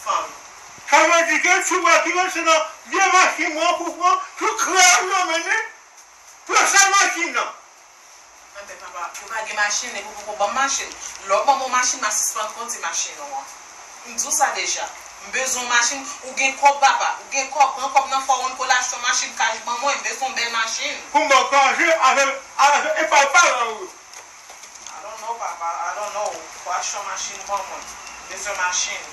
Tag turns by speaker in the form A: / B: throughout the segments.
A: Fanm. Sa
B: vle di ke si w wè ki rete nan vye machin mwen an pou w pran tout kreyòl yo mennen pou yo sal machin nan. Anben papa,
A: ou pa gen machin epi w poko ban m machin. Lè w ban mwen yon machin m a sispann kondi machin ou an. M di w sa deja. M bezwen yon machin. Ou gen kòb papa, ou gen kòb. Pran kòb nan fawonn kole achte yon machin kaj ban mwen. M bezwen yon bèl machin. Pou m ban w kaje
B: avèk epa w pa la ou. I
A: don't know papa I don't know watch yon machine bon mwen bezwen machine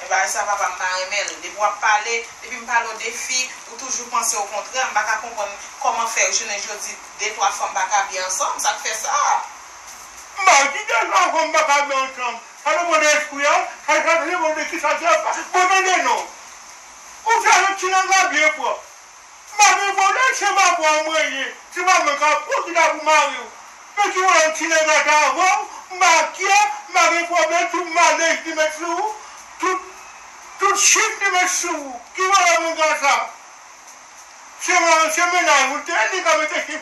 A: e bagay sa papa mpa renmenl depi wap pale depim pale w de fi ou toujou panse o kontrè mpa ka konprann kòman fè jounen jodi de twa fanm paka byen ansanm sak fè sa. Mba
B: di de twa fanm paka byen ansanm sa depan de espri a sa depan de kisa ki ap bon tande non ou fè yon ti langage byen pwòp. Mare vòlè chen babou a mwen ye ti manman kapon ki ta pou marew men si ou wè yon ti nèg antre avanw m pa kyè ma gen pwoblèm tout malèz li met sou ou tout tout chim li met sou ou ki vòlè moun sa sa se se mennaj ou l te ye li ka mete chim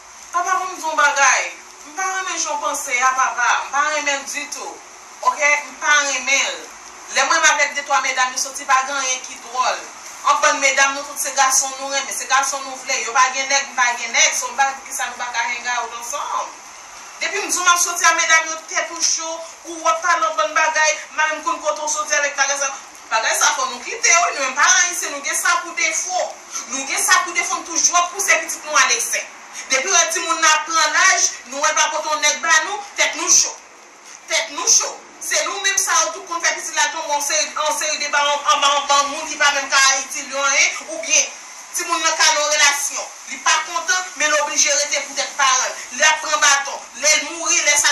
A: Papa pou m di w yon bagay, m pa renmen jan w panse a papa, m pa renmen l ditou ok, m pa renmen l. Lè m renmen avèk de twa medam yo soti pa gen anyen ki dwòl. An bann medam nou tout se gason nou renmen, se gason nou vle, yo pa gen nèg m pa gen nèg, so m pa wè poukisa nou pa ka hang out ansanm. Depi m di w m ap soti a medam yo tèt ou cho, ou ap pale yon bann bagay, m pa menm konn kote w soti avèk bagay sa yo. Bagay sa fò nou kite yo wi nou menm paran ayisyen nou gen sa pou defo nou gen sa pou defo nou toujou ap pouse pitit nou al eksè depiw wè timoun nan ap pran laj nou wèl pa pote yon nèg ba nou tèt nou cho tèt nou cho se nou menm sa yo tou konn fè pitit la tonbe yon seri yon seri de ba anba yon bann moun ki pa menm ka itil yo anyen oubyen timoun nan ka nan yon relasyon li pa kontan men l oblije rete pou tèt paranl lap pran baton lèl mouri lè sa.